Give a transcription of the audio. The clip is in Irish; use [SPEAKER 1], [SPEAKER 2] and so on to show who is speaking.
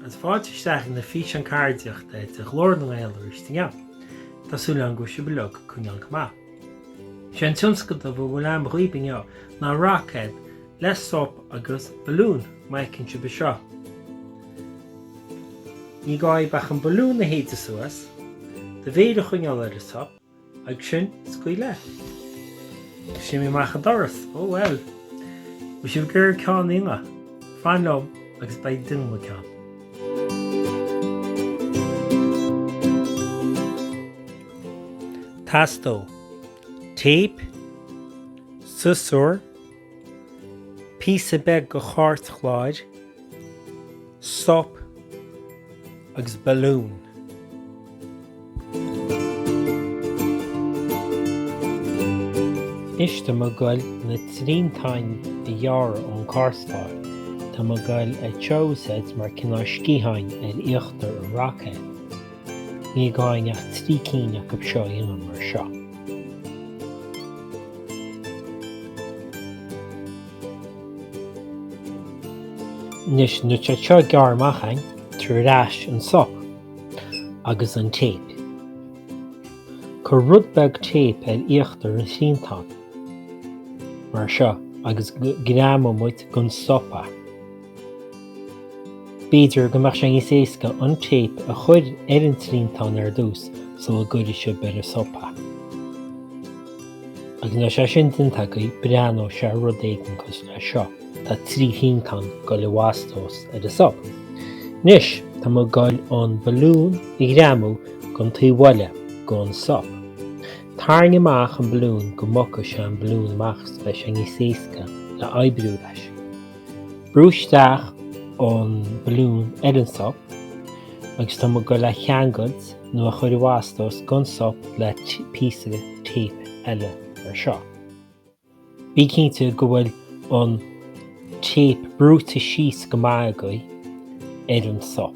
[SPEAKER 1] Is fáilte isteach ag an bhfíseán ceardaíochta de Ghlór na nGael arís inniu. Tá súil agam go bhfuil sibh uilig ag coinneáil go maith. Sé an tionscadal a bhfuil agam dhaoibh inniu ná roicéad le sop agus balún, má fheiceann sibh é seo. Ní gá dhaoibh ach an balún a shéideadh suas, do mhéir a choinneáil ar an sop, agus ansin, scaoil leis. D'imigh sé amach an doras. Ó, bhuel. Má tá sibh ag iarraidh ceann inniu. Fan liom agus beidh muid ag déanamh ceann. Teastódh téip, siosúr, Píosa beag go chairtchlár, sop agus balún. Is tá mé ag goil na triantáin a ghearradh ón gcairtchlár. Tá mé ag goil iad seo a úsáid mar cineál sciatháin ar íochtar an roicéad. Ní gá dhúinn ach trí cinn acu seo a dhéanamh mar seo. Anois, nuair atá seo gearrtha amach againn, tabhair ar ais an sop agus an téip. Cuir rud beag téip ar íochtar an triantáin, mar seo, agus greamaimid gon sop é. B'fhéidir go mbeadh sé níos éasca an téip a chur ar an triantán ar dtús sula gcuirfidh sibh ar an sop é. Agus nuair atá sé sin déanta agaibh, breathnóidh sé rud éigin cosúil leis seo. Tá trí thriantán curtha i bhfastós ar an sop. Anois, tá mé ag goil an balún a ghreamú gon taobh eile gon sop. Tarraing amach an balún go mbogfaidh sé an balún amach is beidh sé níos éasca le oibriú leis. Brú isteach an balún ar an sop agus tá mé ag goil é a cheangailt nó é a chur i bhfastós gon sop le píosa téip eile mar seo. Bí cinnte go bhfuil an téip brúite síos go maith agaibh ar an sop.